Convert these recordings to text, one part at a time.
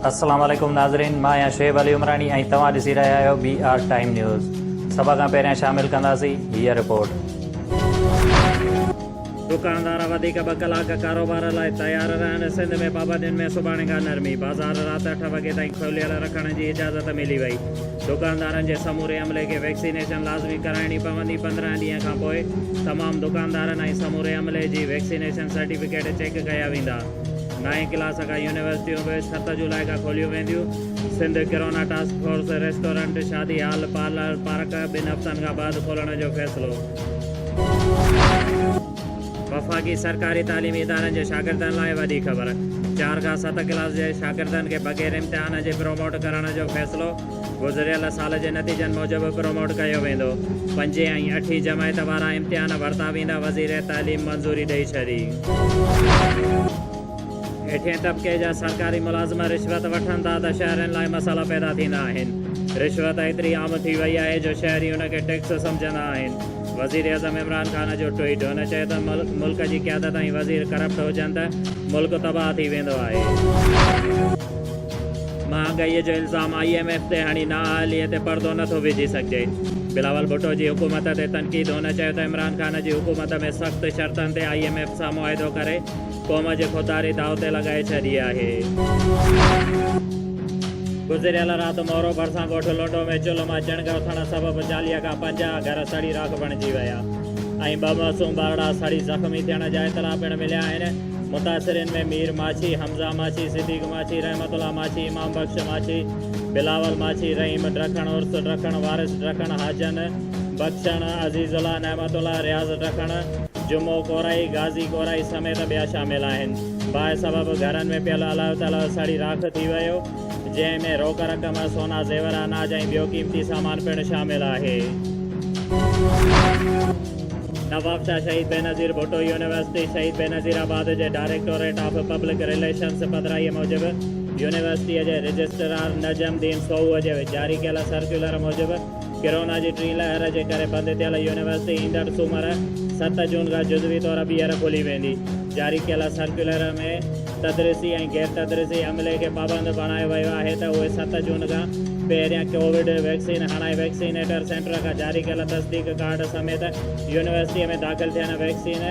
السلام عليڪم ناظرين مان آهيان شعيب علي عمراڻي ۽ توهان ڏسي رهيا آهيو بي آر ٽائيم نيوز سڀ کان پهريان شامل ڪنداسين هيء رپورٽ دڪاندار وڌيڪ ٻه ڪلاڪ ڪاروبار لاء تيار رهڻ سنڌ ۾ پابندين ۾ سڀاڻي کان نرمي بازار رات اٺ وڳي تائين کوليل رکڻ جي اجازت ملي وئي دڪاندارن جي سموري عملي کي ويڪسينيشن لازمي ڪرائڻي پوندي، پندرهن ڏينهن کان پوء تمام دڪاندارن ۽ سموري عملي جي ويڪسينيشن سرٽيفڪيٽ چيڪ ڪيا ويندا، نائين ڪلاس کان يونيورسٽيون به ست جولاء کان کوليون وينديون، Sindh corona task force restaurant, شادي هال، پارلر، پارڪ ٻن هفتن کان بعد کولڻ جو فيصلو. وفاقي سرڪاري تعليمي ادارن جي شاگردن لاء وڏي خبر، چار کان ست ڪلاس جي شاگردن کي بغير امتحان جي پروموٽ ڪرڻ جو فيصلو گذريل سال جي نتيجن موجب پروموٽ ڪيو ويندو، پنجين ۽ اٺين جماعت وارا امتحان ورتا ويندا وزير تعليم منظوري ڏئي ڇڏي. هيٺئين طبقي جا سرڪاري ملازم رشوت وٺن ٿا ته شهرين لاء مسئلا پيدا ٿيندا آهن. رشوت ايتري عام ٿي وئي آهي جو شهري ان کي ٽيڪس سمجهندا آهن. وزيراعظم عمران خان جو ٽوئيٽ، هن چيو ته ملڪ جي قيادت ۽ وزير ڪرپٽ هجن ته ملڪ تباهه ٿي ويندو آهي. مهانگائي جو الزام آء ايم ايف تي هڻي نااهلي تي پردو نه ٿو وجهي سگهجي. بلاول ڀٽو جي حڪومت تي تنقيد، هن چيو ته عمران خان جي حڪومت ۾ سخت شرطن تي آء ايم ايف سان معاهدو ڪري قوم جي کوتاري داء تي لڳائي ڇڏي آهي. گذريل رات مورو ڀرسان ڳوٺ لنڊو ۾ چلهه مان چڻگ اٿڻ سبب چاليهه کان پنجاهه گهر سڙي راک بڻجي ويا ۽ ٻه معصوم ٻارڙا سڙي زخمي ٿيڻ جا اطلاع پڻ مليا آهن. متاثرين ۾ مير ماڇي، حمزه ماڇي، صديق ماڇي، رحمت الله ماڇي، امام بخش ماڇي، بلاول ماڇي، رحيم ڊکڻ عرس ڊکڻ، وارث ڊکڻ، حاجن، بخشڻ، عزيز الله، نعمت الله، رياض ڊکڻ، جمعو ڪورائي، غازي ڪورائي سميت ٻيا شامل آهن. باهه سبب گهرن ۾ پيل الايو تلايو سڙي راک ٿي ويو، جنهن ۾ روڪ رقم، سونا زيور، اناج ۽ ٻيو قيمتي سامان پڻ شامل آهي. نوابشاهه شهيد بينظير ڀٽو يونيورسٽي شهيد بينظير آباد جي ڊائريڪٽوريٽ آف پبلڪ رليشنز پڌرائي موجب يونيورسٽيء جي رجسٽرار نجم دين سوهوء جي جاري ڪيل سرڪيولر موجب، ڪرونا جي ٽين لهر جي ڪري بند ٿيل يونيورسٽي ايندڙ سومر ست جون کان جزوي طور ٻيهر کلي ويندي. جاري ڪيل سرڪيولر ۾ تدريسي ۽ غير تدريسي عملي کي پابند بڻايو ويو آهي ته اهي ست جون کان پهريان ڪووڊ ويڪسين هڻائي ويڪسينيٽر سينٽر کان جاري ڪيل تصديق ڪارڊ سميت يونيورسٽي ۾ داخل ٿين ويڪسين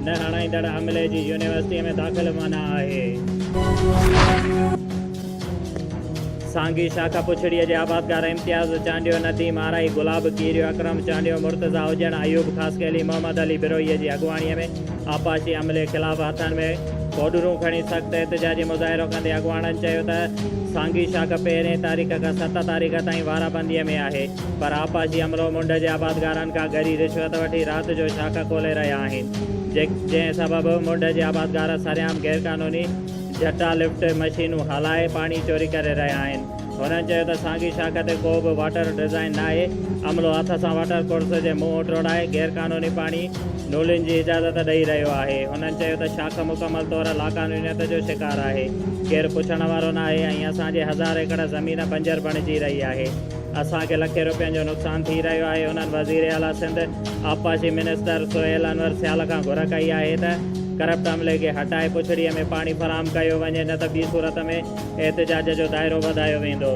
نه هڻائيندڙ عملي جي يونيورسٽي ۾ داخل منع آهي. سانگي شاخ پڇڙيء جي آبادگار امتياز چانڊيو، نديم آرائي، گلاب کيريو، اڪرم چانڊيو، مرتضيٰ هجڻ، ايوب خاصخيلي، محمد علي بروهيء جي اڳواڻيء ۾ آبپاشي عملي خلاف هٿن ۾ پوڊرون کڻي سخت احتجاجي مظاهرو ڪندي اڳواڻن چيو ته سانگي شاخ پهرين تاريخ کان ست تاريخ تائين وارابنديء ۾ آهي پر آبپاشي عملو منڍ جي آبادگارن کان ڳري رشوت وٺي رات جو شاخ کولي رهيا آهن جنهن سبب منڍ جي آبادگار سرعام غيرقانوني جٽا لفٽ مشينون هلائي پاڻي چوري ڪري رهيا آهن. هنن چيو ته سانگي شاخ تي ڪو به واٽر ڊزائين ناهي، عملو هٿ سان واٽر ڪورس جي منهن ٽوڙائي غيرقانوني پاڻي نولين جي اجازت ڏئي رهيو آهي. هنن چيو ته شاخ مڪمل طور لاقانونيت جو شڪار آهي، ڪير پڇڻ وارو ناهي ۽ اسان جي هزار ايڪڙ زمين بنجر بڻجي رهي آهي، اسان کي لکين روپين جو نقصان ٿي رهيو آهي، هنن وزيراعليٰ سنڌ. آبپاشي منسٽر سهيل انور سيال کان گهر ڪئي آهي ته ڪرپٽ عملي کي هٽائي پڇڙي ۾ پاڻي فراهم ڪيو وڃي نه ته ٻي صورت ۾ احتجاج جو دائرو وڌايو ويندو.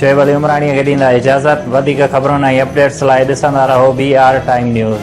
شعيب علي عمراڻيء کي ڏيندا اجازت. وڌيڪ خبرن ۽ اپڊيٽس لاء ڏسندا رهو بي آر ٽائيم نيوز.